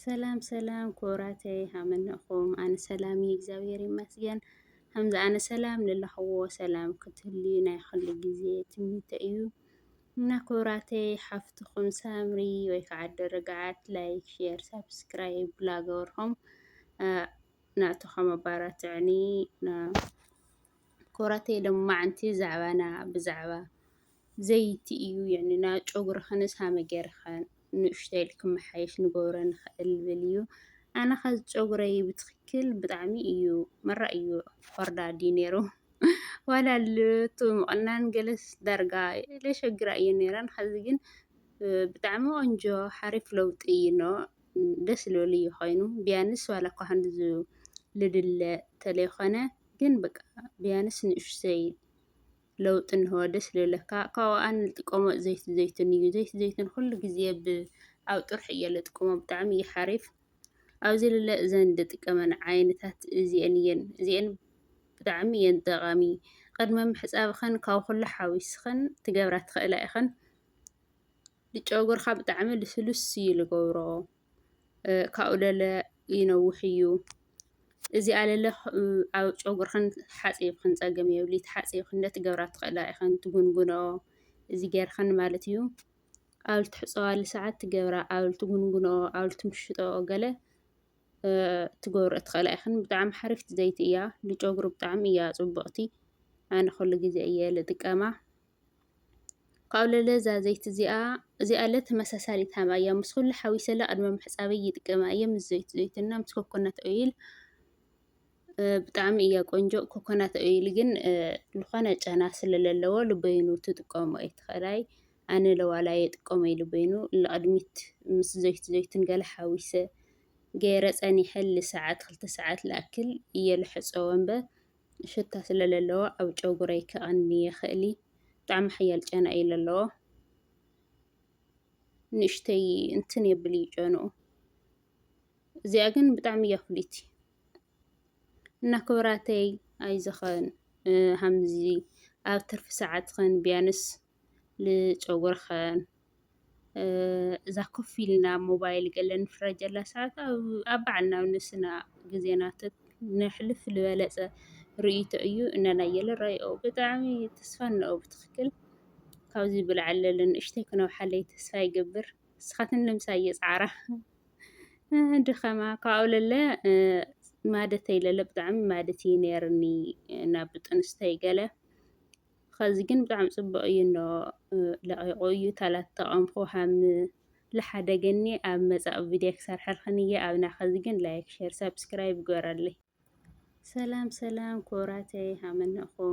ሰላም ሰላም ክቡራተይ ሃመነኹም ኣነ ሰላም እዩ እግዚኣብሔር ይመስገን ከምዚ ኣነ ሰላም ልለኽዎ ሰላም ክትህልዩ ናይ ኹሉ ግዜ ትምኒተ እዩ እና ክቡራተይ ሓፍትኹም ሳምሪ ወይ ከዓ ደረጋዓት ላይክ ሼር ሳብስክራይብ ላገበርኹም ናእቶኸም ኣባራትዕኒ ክቡራተይ ሎማዕንቲ ዛዕባና ብዛዕባ ዘይቲ እዩ የዕንና ጨጉርኽንስ ሃመ ገይርኽን ንእሽተይ ኢልኪ ክመሓየሽ ንገብሮ ንኽእል ብል እዩ ኣነኸ ጨጉረይ ብትኽክል ብጣዕሚ እዩ መራ እዩ ኾርዳዲ ነይሩ ዋላ ልቱ ምቕናን ገለስ ዳርጋ ለሸግራ እየ ነይረን ኸዚ ግን ብጣዕሚ ቆንጆ ሓሪፍ ለውጢ እዩ ኖ ደስ ልብል እዩ ኮይኑ ቢያንስ ዋላ እኳ ክንድዚ ልድለ ተለይኮነ ግን በቃ ቢያንስ ንእሽተይ ለውጢ እንሆ ደስ ልብለካ ካብኡ ከኣ ንጥቀሞ ዘይቲ ዘይቱን እዩ ዘይቲ ዘይቱን ኩሉ ግዜ ኣብ ጥርሑ እየ ልጥቀሞ ብጣዕሚ እዩ ሓሪፍ ኣብዚ ልለ እዘን ድጥቀመን ዓይነታት እዚኤን እየን እዚኤን ብጣዕሚ እየን ጠቃሚ ቅድሚ ምሕጻብክን ካብ ኩሉ ሓዊስክን ትገብራ ትክእላ ኢክን ንጨጉርካ ብጣዕሚ ልስሉስ እዩ ልገብሮ። ካብኡ ለለ ይነውሕ እዩ። እዚኣ ለለ ኣብ ጨጉርኽን ሓፂብክን ፀገም የብልይ ተሓፂብክን ነቲ ገብራ ትኽእላ ኢኽን ትጉንጉንኦ እዚ ጌርኽን ማለት እዩ። ኣብ ልትሕፀባሉ ሰዓት እቲ ገብራ ኣብ ልትጉንጉንኦ ኣብ ልትምሽጥኦ ገለ ትገብርኦ ትኽእላ ኢኽን ብጣዕሚ ሓሪፍቲ ዘይቲ እያ። ንጨጉሪ ብጣዕሚ እያ ፅብቕቲ ኣነ ኩሉ ግዜ እየ ልጥቀማ። ካብ ለለ እዛ ዘይቲ እዚኣ እዚኣለ ተመሳሳሊ ታም ኣያ ምስ ኹሉ ሓዊሰለ ቅድሚ ምሕጻበይ ይጥቀመ ኣየ ምስ ዘይቲ ዘይትና ምስ ኮኮናት ኦይል ብጣዕሚ እያ ቆንጆ ኮኮናት ኦይል ግን ዝኾነ ጨና ስለ ዘለዎ ልበይኑ ትጥቀሞ ኣይትኸላይ ኣነ ለዋላ የጥቀሞ ይልበይኑ ንቕድሚት ምስ ዘይቲ ዘይትን ገለ ሓዊሰ ገይረ ጸኒሐ ልሰዓት ክልተ ሰዓት ልኣክል እየ ልሕጸዎ እምበር ሽታ ስለ ለለዎ ኣብ ጨጉረይ ከቐኒ የኽእል እዩ። ብጣዕሚ ሓያል ጨና እዩ ለለዎ። ንእሽተይ እንትን የብል እዩ ጨንኡ። እዚኣ ግን ብጣዕሚ እያ ፍልይቲ እና ክብራተይ ኣይዘኸን ሃምዚ ኣብ ትርፊ ሰዓትኽን ቢያንስ ንጨጉርኽን እዛ ኮፍ ኢልና ሞባይል ገለ ንፍረጀላ ሰዓት ኣብ ባዕልና ኣብ ነብስና ግዜና ነሕልፍ ዝበለጸ ርእይቶ እዩ እና ናይ የለራይኦ ብጣዕሚ ተስፋ እነኦ ብትኽክል ካብዚ ብላዕሊ ለለ ንእሽተይ ክነውሓለይ ተስፋ ይገብር ንስኻትን ልምሳ እየጸዓራ ድኸማ ካብኡ ለለ ማደተይ ለለ ብጣዕሚ ማደት እዩ ነይርኒ ናብ ብጥንስተይ ገለ ኸዚ ግን ብጣዕሚ ፅቡቕ እዩ እንዶ ለቒቑ እዩ ታላት ተቐምኹ ሃም ልሓደገኒ ኣብ መፃኡ ቪድዮ ክሰርሐልኽን እየ ኣብና ኸዚ ግን ላይክ ሼር ሳብስክራይብ ግበረለይ ሰላም ሰላም ክቡራተይ ሃመነኹም